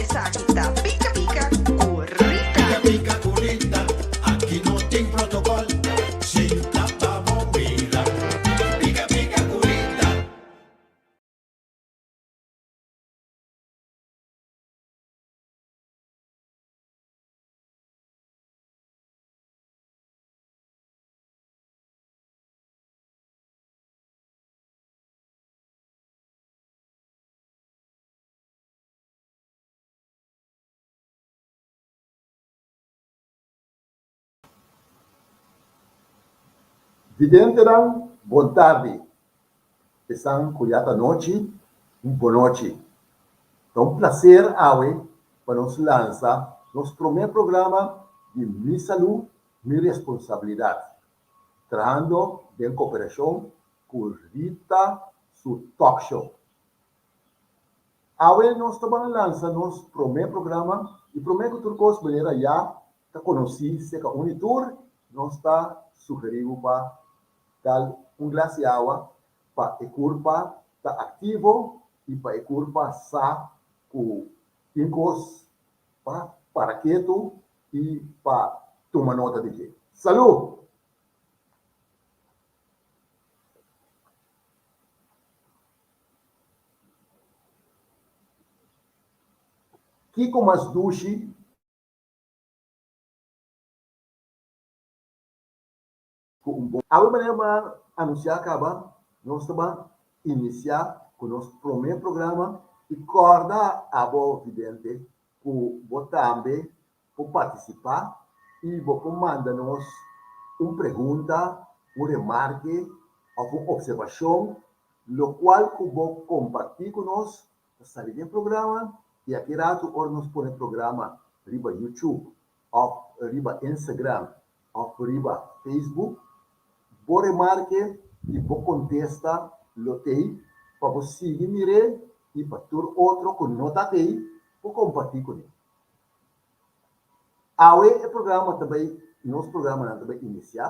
Esaki ta pika pika ku rita. Pika pika ku rita, aki no tin protokol, sinta pa bo mira. Pika pika ku rita. Videntenan bon tardi, esnan cu ya ta nochi un bon nochi. Ta un placer awe pa nos lansa nos prome programa di Mi Salu, Mi Responsabilidad, trahando den cooperacion cu Rita su Talk Show. Awe nos ta ban lansa nos promé programa i promé ku tur kos manera ya ta konosí seka uni tur nos ta sugerí bo pa dal un glas di awa pa e kurpa ta aktivo i pa e kurpa sa ku tin kos pa para ketu i pa tuma nota di dje. Salú! Kiko mas dushi? Ku un bon awe manera bo a anunsiá kaba, nos ta ban inisiá ku nos promé programa i kòrda abo vidente ku bo tambe por participá y bo por manda nos un pregunta, un remarke of un observacion locual cu bo comparti cu nos ta sali den programa y aki ratu ora nos pone programa riba YouTube of riba Instagram of riba Facebook bo remarke y bo contesta lo t'ey pa bo sigui mir'é y pa tur otro cu no ta t'ey por comparti cune. Awe e programa ta bai nos programanan ta bai inisiá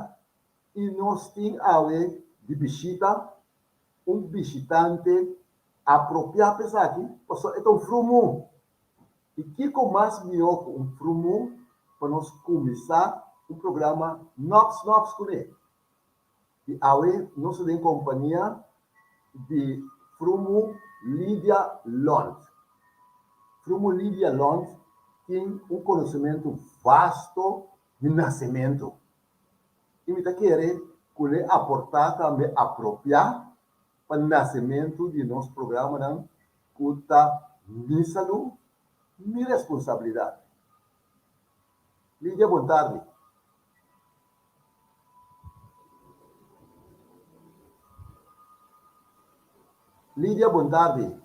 i nos tin awe di bishita un bishitante apropiá pa esaki pasobra e ta un frumu. I kiko mas mihó ku un frumu pa nos kuminsá un programa nòks nòks kuné. y awe nos ta den compania di Frumu Lydia Lont. Frumu Lydia Lont tin un conocimento vasto di nacemento y mi ta kere cu le aporta tambe apropia pa nacemento di nos programanan cu ta Mi Salud, Mi Responsabilidad. Lydia, bon tardi. Lidia bon tarde.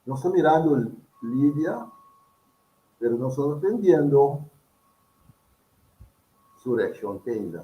Nos ta mirando Lidia pero nos no ta entendiendo su reaccion te ainda.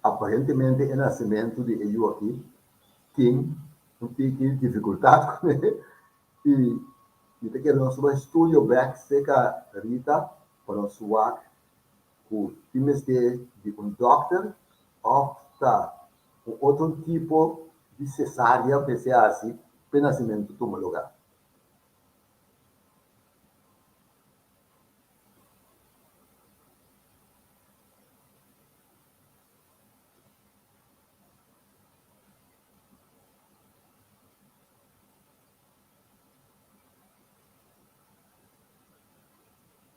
Aparentemente e nasementu di e yu aki tin un tiki difikultat ku e i mi ta kere nos bai studio bek serka Rita pa nos wak ku tin mester di un dòkter òf ta Un otro tipo di sesarea mester hasi pa e nacimentu tuma lugar.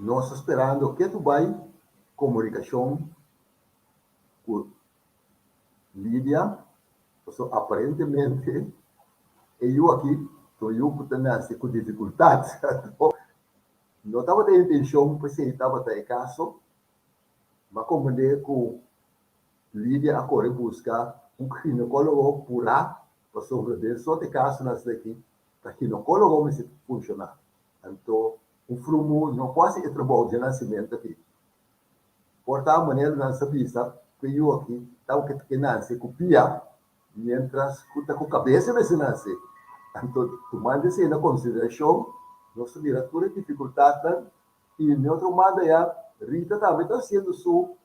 Nos ta sperando ke ku bai komunikashon ku Lidia pasobra aparentemente e yu aki ta un yu ku ta nase ku difikultat. No tabata e intencion pa esey tabata e caso, ma comprende cu Lydia a core busca un ginecologo pura pasobra den e sort e casonan asaki ta ginecologo mester ta funciona. Anto un frumu no por haci e trabao dje nacimento aki. Por ta manera nan sa bisa cu e yu aki ta oca ta ke nace cu pia Miéntras ku ta ku kabesa mester na hasi, anto tumando esei na konsiderashon, nos ta mira tur e difikultatnan i den otro manda ya Rita tambe ta hasiendo su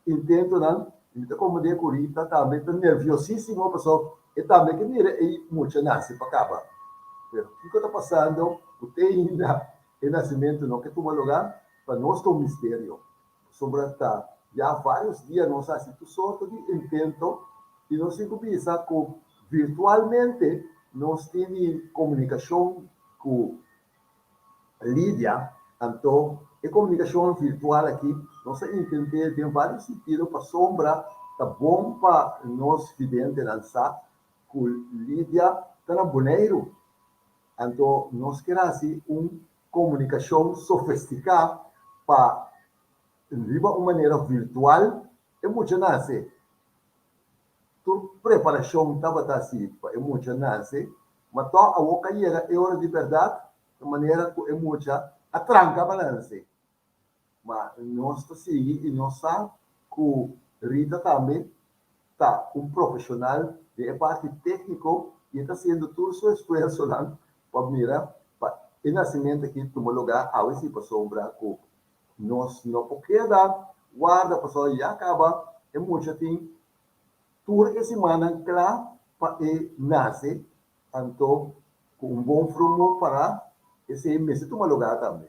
intentonan i mi ta komprendé ku Rita tambe ta nerviosísimo pasó e tambe ke mira e mucha nase pa kaba. Pero kiko ta pasando ku te ainda e nasimentu no ke tuma lugá? Pa nos ta un misterio. Pasobra ta ya varios dia nos a hasi tur sorto di intento y nos tin cu bisa cu virtualmente nos tin di comunicacion cu Lidia, anto e comunicacion virtual aki nos a intent'e den varios sintido pasobra ta bon pa nos videntenan sa cu Lidia ta na Boneiru, anto nos kier hasi un Komunikashon sofestiká pa riba un manera virtual e mucha nase. Tur preparashon tabata así pa e mucha nase, ma tò awor ka yega e ora di bèrdat, manera ku e mucha a tranka pa nase. Ma nos ta sigui i nos sa ku Rita tambe ta un profeshonal den e parti tékniko i e ta hasiendo tur su esfuersonan pa mira pa e nasimentu aki tuma lugá awe si pasobra ku nos no por keda warda pasobra ya kaba e mucha tin tur e simannan kla pa e nase anto ku un bon frungu pará esei mester tuma lugá tambe.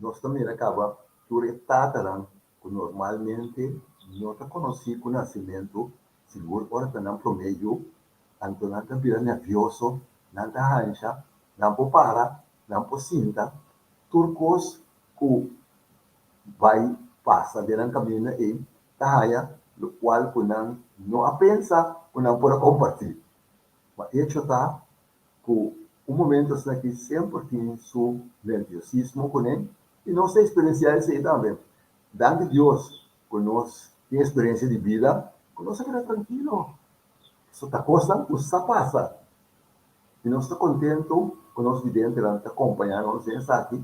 Nos ta mira caba tur e tatanan cu normalmente no ta conoci cu nacimento, sigur ora ta nan prome yu, anto nan ta bira nervioso, nan ta hancha, nan por para, nan por sinta, tur cos cu bay pasa den nan caminda ey ta haya lo cual cu nan no a pensa cu nan por a comparti. Ma echo ta. cu un momento asina aki semper tin su nerviosismo cune y nos ta experiencia esey tambe. Dank di Dios cu nos tin experiencia di bida cu nos a keda trankilo. So ta cosnan cu sa pasa y nos ta contento cu nos videntenan ta compaña nos den esaki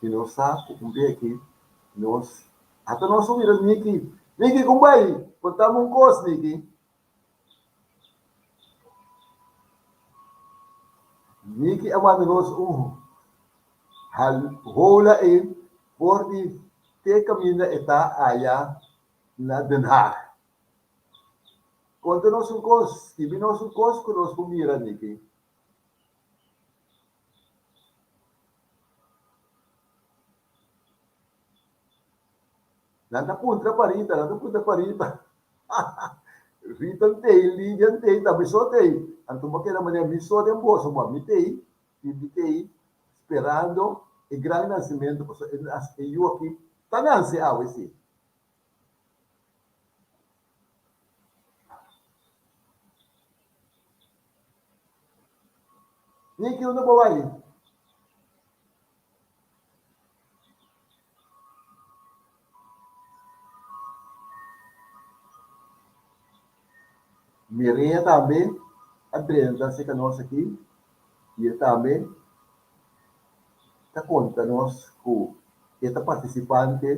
y nos sa cu un be aki nos, hasta nos a wira Nicky, Nicky con bay contame un cos Nicky. Miki a wak Ros un hal hola ei for di te kaminda e ta aya na Den Haag. Konta nos un kos, skibi nos un kos ku nos por mira, Miki. Nan ta puntra pa Rita, nan ta puntra pa Rita, haha, Rita n t'ei, Lidia n t'ei, ta mi so t'ei. Anto bo keda manera mi so den boso, bo a mi t'ei, Pippi t'ei, sperando e gran nasimento, pasobra e nasi, e yu aki ta nasi awe si. Niki, unda bo bai? Mireya tambe a drenta cerca nos aki y e tambe ta conta nos cu e ta participante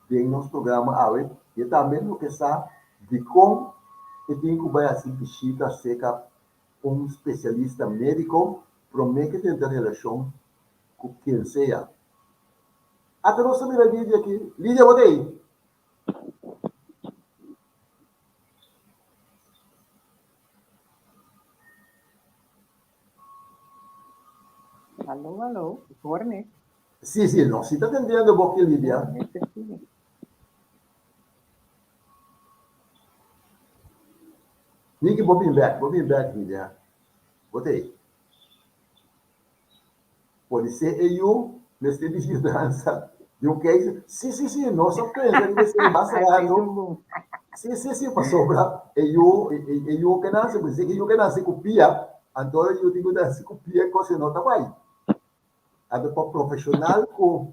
den nos programa awe y e tambe lo ke sa dicon e tin cu bay haci bishita cerca Un spesialista médiko promé ke tenta relashon ku ken sea. Ata nos ta mira Lidia aki. Lidia, bo ta ei? Aló, aló, Jorge. Sí, sí, nos sí ta tendiendo bo aki, Lidia. Jorge, te sigue. Niki bo bin bek, bo bin bek di dia. Bo ta e. Podi se e yu mester di yudansa di un keisha. Si, si, si, nos a pensa riba esei mas rato. Si, si, si, pasobra e yu, e yu ke nase, si e yu ke nase ku pia, anto e yu tin ku nase ku pia i kos e no ta bai. Anto pa profeshonal ku.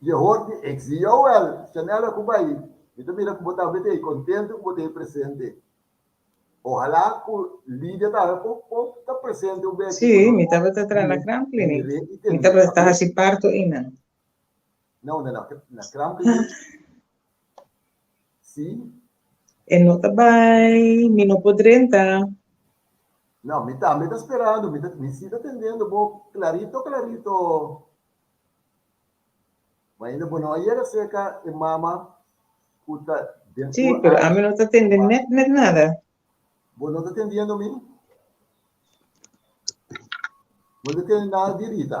Yehor di Exi, Yowel, Shanella ku bai, mi ta mira ku bo tambe ta e kontentu ku bo ta e presente. Ohalá ku Lidia ta habia por por ta presente un bes aki ku nos bo den e re i den e papia. No, no, no, na Kraamkliniek. Sí. E no ta bai, mi no por drenta. No, mi tambe ta sperando, mi ta, mi sí ta tendendo bo clarito, clarito. Ma ainda bo no a yega cerca e mama cu ta den Sí, un pero ami aña. no ta tende Mama. net, net nada. Bo no ta tendiendo mi? Bo no ta tende nada di Rita?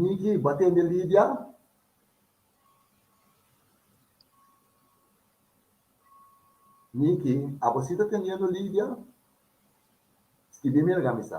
Niki bo a tende Lidia? Niki, abo si ta tendiendo Lidia? Skibí mi alga mi sa.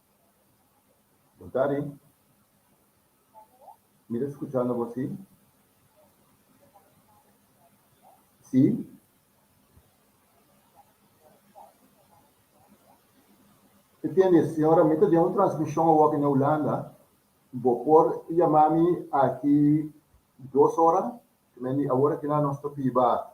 Bontadi. Mi ta skuchando bo si. Si. Mi tende, señora, mi ta den un transmishon awor na Hulanda. Bo por yama mi aki dos ora? Kemen di awor akinan nos ta biba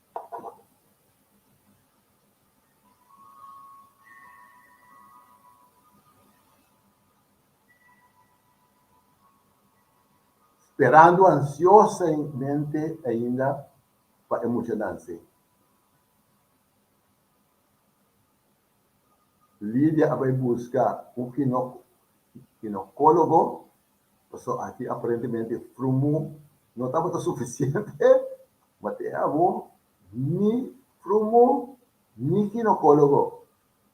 Sperando ansiosamente ainda pa e muchanan sey. Lidia a bai busca un ginocologo. Pasobra aki aparentemente e frumu no tabata sufisiente, ma te abo ni frumu ni ginokólogo,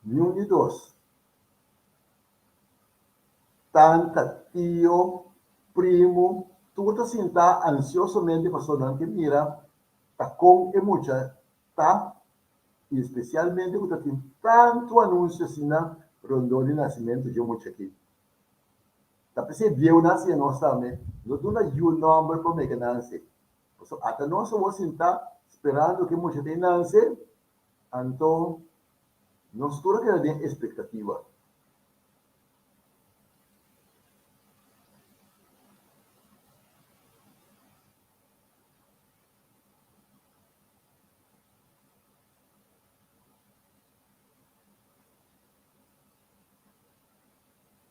niun di dos, tanta, tio, primu, tur ta sintá ansiosomente pasobra nan ke mira ta kon e mucha ta i spesialmente ku ta tin tantu anunsio asina rondó di nasimentu dje mucha aki. Ta p'esei bieunan si e nos tambe lo duna yu nòmber pa mega nanse. Pasobra ata nos awor sintá sperando ku e mucha ta e nanse, anto nos tur a keda den espektativa.